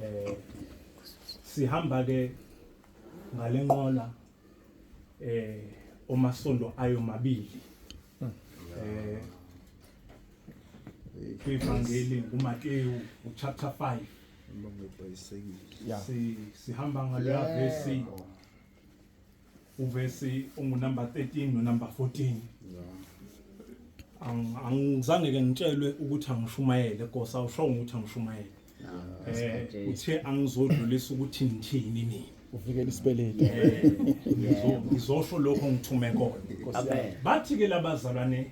eh sihamba ke ngalenqola eh omasondo ayo mabili eh kwivangeli nguMateyu uchapter 5 Uma ngebhayisekile. Yeah. si sihamba ngaleya verse uvesi ungunumber 13 nonumber 14 Ang- angizange ke ngitshelwe ukuthi angishumayele kosa awushongo ukuthi angishumayele eh uthe angizodlulisa ukuthi ngithini mina uvikela isibeleli Ngizo- ngizosho lokho ngithume kona Amen. bathi ke labazalwane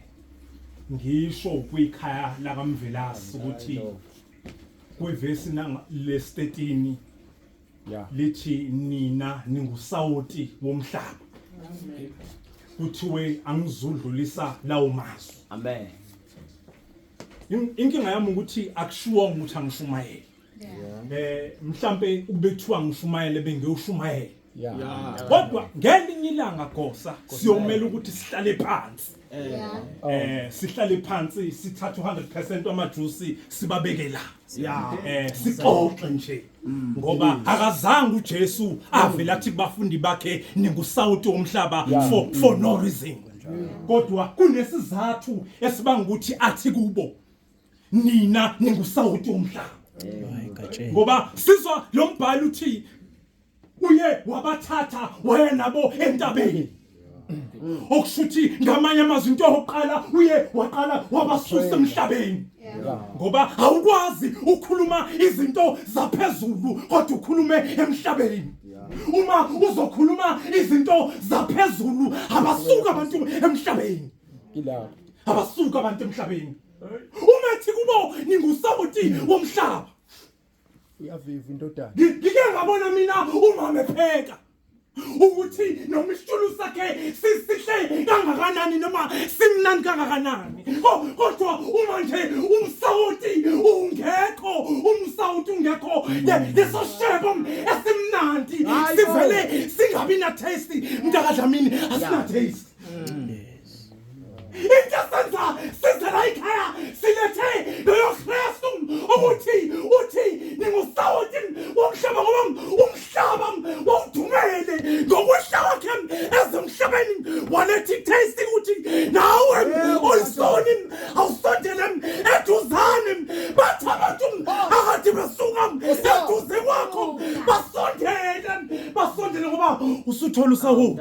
ngisho kwikhaya lakamvelasi ukuthi kwivesi nanga lestetini yeah. lithi nina ningusawoti womhlaba kuthiwe angizudlulisa lawo mazwi amen inkinga yami ukuthi akushiwonga ukuthi angishumayele eh mhlambe ukubethiwa ngishumayele bengiyoshumayela kodwa ngelinye ilanga gosa siyomela ukuthi sihlale phansi eh sihlale phansi sithathe 100% amajuice sibabeke la yeah eh sixoxe nje mm. ngoba akazange uJesu avela athi kubafundi bakhe ningusawuti womhlaba for for no reason mm. kodwa kunesizathu esibanga ukuthi athi kubo nina ningusawuti womhlaba ngoba sizwa lo mbhalo uthi uye wabathatha waya nabo entabeni okushuthi ngamanye amazwi into yokuqala uye waqala wabasusa emhlabeni ngoba awukwazi ukukhuluma izinto zaphezulu kodwa ukhulume emhlabeni uma uzokhuluma izinto zaphezulu abasuka abantu emhlabeni ilapho abasuka abantu emhlabeni umethi kubo ningusawoti womhlaba uyaviva indodana ngike ngabona mina umama epheka ukuthi noma isitshulu sakhe sisihle kangakanani noma simnani kangakanani kodwa uma nje umsawoti ungekho umsawoti ungekho leso shebo esimnandi sivele singabi na taste mntaka Dlamini asina taste mm. Into senza senza la ikhaya silethe loyo Kristu ukuthi uthi ningusawoti womhlaba ngoba umhlaba wawudumele ngokwehla kwakhe ezemhlabeni waletha itaste ukuthi nawe oyisoni awusondele eduzane bathi abantu akade besuka eduze kwakho basondele basondele ngoba usuthola usakuthi